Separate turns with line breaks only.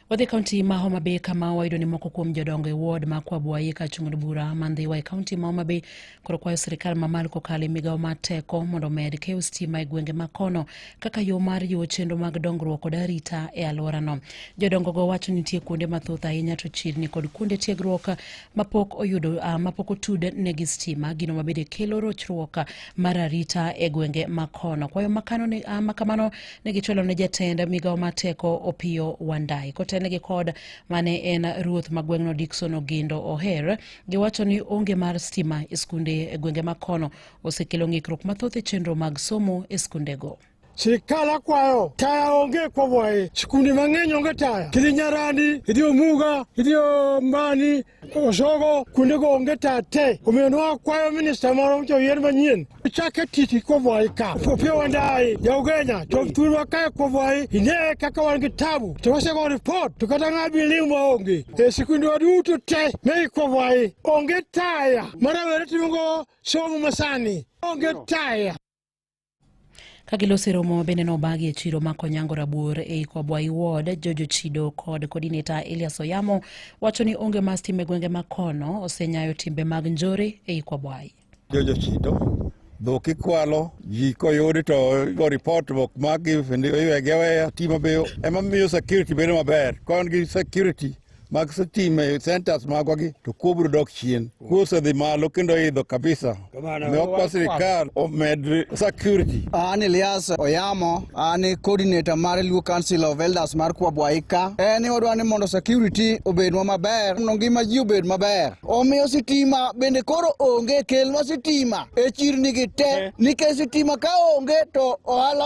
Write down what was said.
Wadhi kaunti ma Homa Bay kama wayudo ni moko kuom jodongo e ward ma Kwabuayi ka chung'od bura ma Ndhiwa e kaunti ma Homa Bay koro kwayo sirkal mamalo kokalo e migawo mar teko mondo omed keyo stima e gwenge ma kono kaka yo mar jiwo chenro mag dongruok kod arita e alworano. Jodongogo wacho ni nitie kuonde mathoth ahinya to chirni kod kuonde tiegruok mapok oyudo uh, mapok otud ne gi stima gino mabende kelo rochruok mar arita e gwenge makono kwayo makano ne, uh, makamano ne gichwalo ne jatend migawo mar teko opiyo wandai kotelnegi kod mane en ruoth ma gweng'no dikson ogindo oher giwacho ni onge mar stima e skunde e gwenge makono osekelo ng'ikruok mathoth e chenro mag somo e skundego chikala kwayo taya onge kwobwaye chikundi mang'eny onge taya kidhi nyarandi idhi omuga idhi ombani oshogo kuondego onge taya te omiyo nwakwayo minista moro mocho yien manyien chake titi kwobwaye ka opia wandayi jaugenya chop thurwa kae kwobwaye ine kaka wan gi tabu to wasego ripot to kata ng'a biliw maonge e sikundwa duto te megi kwobwaye onge taya marawere timogo somo masani onge taya Kagiloso e romo bende nobagi e chiro ma Konyango Rabuor ei Kwabwai Ward, Jojo Chido kod coordinator Elias Oyamo wacho ni onge ma stima e gwenge ma kono osenyayo timbe mag njore ei Kwabwai. Jojo Chido dhok ikwalo ji koyudi to go report bok magi iwegi aweya timo be ema miyo security bedo maber kon gi security mag stima e centers magwa gi to kuo biro dok chien. Kuo osedhi malo kendo idho kabisa. Ne okwa sirikal omed security. An Elias Oyamo, an e coordinator mar Luo Council of Elders mar Kwabwaika. En ni wadwa ni mondo security obedwa maber, mondo ngima ji obed maber. Omiyo sitima bende koro onge, kelnwa sitima e chirni gi te, eh. nikech sitima ka onge to ohala